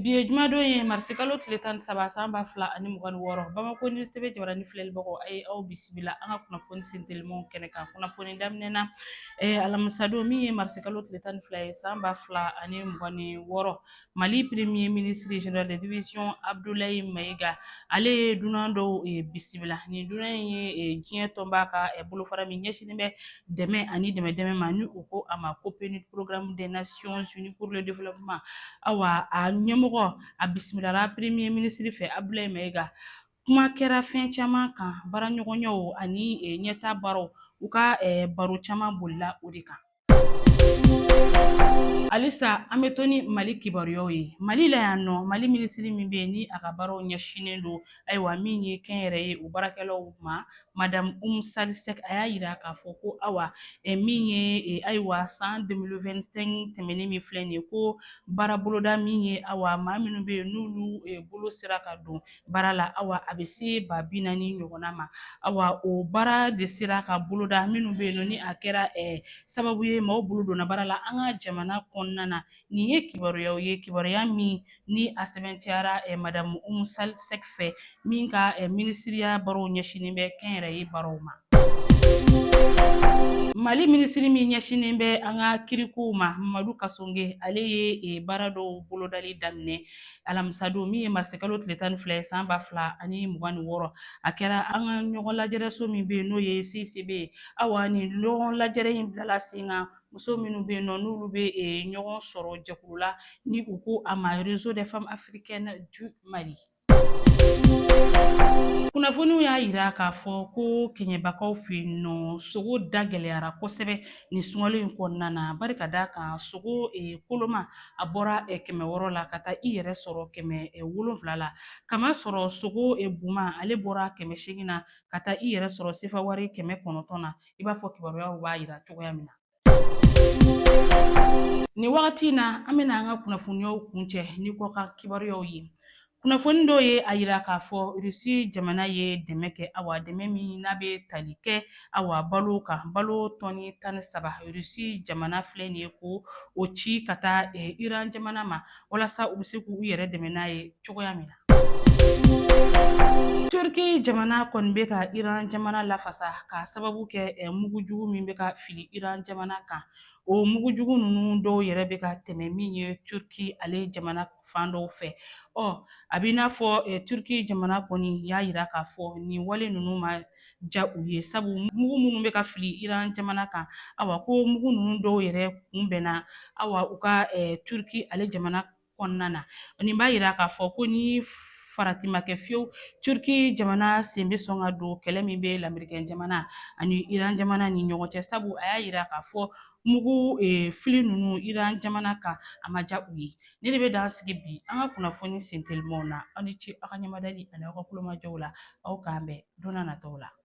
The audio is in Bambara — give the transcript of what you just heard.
Bi ye jumadon ye marisikalo tile tan ni saba san ba fila ani mugan wɔɔrɔ bamakɔ ni sebe jabarani filɛlibagaw a ye aw bisimila an ka kunnafoni sentelimaw kɛnɛ kan kunnafoni daminɛ na alamisadon min ye marisikalo tile tan ni fila ye san ba fila ani mugan ni wɔɔrɔ mali premier ministre général de division abdulayi mayiga ale ye dunan dɔw bisimila nin dunan in ye diɲɛ tɔnba ka bolofara min ɲɛsinnen bɛ dɛmɛ ani dɛmɛ dɛmɛ ma ni u ko a ma ko PNUD programme des Nations Unies pour le Développement awa a ɲɛmɔgɔ a bisimilala premier ministre fɛ Abdulaye Mayiga kuma kɛra fɛn caman kan baaraɲɔgɔnyaw ani eh, ɲɛta baaraw u ka eh, baro caman bolila o de kan halisa an bɛ to ni mali kibaruyaw ye mali la yan nɔ mali minisiri min bɛ yen ni a ka baaraw ɲɛsinnen don ayiwa min ye kɛnyɛrɛye o baarakɛlaw ma madamu umu sal sɛk a y'a yira k'a fɔ ko awa min ye ayiwa san 2025 tɛmɛnen min filɛ nin ye ko baara boloda min ye awa maa minnu bɛ yen n'olu bolo sera ka don baara la awa a bɛ se ba bi naani ɲɔgɔnna ma awa o baara de sera ka boloda minnu bɛ yen nɔ ni a kɛra sababu ye maaw bolo donna baara la an ka jamana kɔnɔna na nin ye kibaruyaw ye kibaruya min ni a sɛbɛntiyara eh, madamu umu sal sɛk fɛ min ka eh, minisiriya baaraw ɲɛsinin bɛ kɛnyɛrɛye baaraw ma mali minisiri min ɲɛsinen bɛ an ka kirikow ma mamadu kasonge ale ye e, baara dɔw bolodali daminɛ alamisadon min ye marisikalo tile tan ni fila ye san ba fila ani mugan ni wɔɔrɔ a kɛra an ka ɲɔgɔn lajɛrɛso min bɛ yen n'o ye cicb ye awa nin ɲɔgɔn lajɛrɛ in bilala sen kan muso minnu bɛ yen nɔ n'olu bɛ ɲɔgɔn sɔrɔ jɛkulu la ni u ko a ma réseau des femmes africaines du Mali kunnafoniw y'a yira k'a fɔ ko kɛɲɛbakaw fɛ yen nɔ sogo da gɛlɛyara kosɛbɛ nin sunkalo in kɔnɔna na bari ka d'a kan sogo eh, koloma a bɔra eh, kɛmɛ wɔɔrɔ la ka taa i yɛrɛ sɔrɔ kɛmɛ eh, wolonfila la kamasɔrɔ sogo buma ale bɔra kɛmɛ seegin na ka taa i yɛrɛ sɔrɔ sefawari kɛmɛ kɔnɔntɔn na i b'a fɔ kibaruyaw b'a yira cogoya min na. Nin wagati in na an bɛna an ka kunnafoniyaw kuncɛ ni kɔkan kibaruyaw ye. Kunnafoni dɔw ye a yira k'a fɔ Rusi jamana ye dɛmɛ kɛ awa dɛmɛ min n'a bɛ tali kɛ awa balo kan balo tɔni tan ni saba Rusi jamana filɛ nin ye ko o ci ka taa Iran jamana ma walasa u bɛ se k'u yɛrɛ dɛmɛ n'a ye cogoya min na. Turki jamana kɔni bɛ ka Iran jamana lafasa k'a sababu kɛ mugu jugu min bɛ ka fili Iran jamana kan o mugu jugu ninnu dɔw yɛrɛ bɛ ka tɛmɛ min ye Turki ale jamana fan dɔw fɛ ɔ a b'i n'a fɔ Turki jamana kɔni y'a yira k'a fɔ nin wale ninnu ma ja u ye sabu mugu minnu bɛ ka fili Iran jamana kan awa ko mugu ninnu dɔw yɛrɛ kunbɛnna awa u ka Turki ale jamana kɔnɔna na nin b'a yira k'a fɔ ko ni farati ma kɛ fiyewu turki jamana sen bɛ sɔn ka don kɛlɛ min bɛ lamerikɛn jamana ani iran jamana ni ɲɔgɔn cɛ sabu a y'a yira k'a fɔ mugu fili ninnu iran jamana kan a ma diya u ye nin de bɛ dan sigi bi an ka kunnafoni sentelimaw na aw ni ce aw ka ɲamadali ani aw ka kulomajɔw la aw k'an bɛn don na nataw la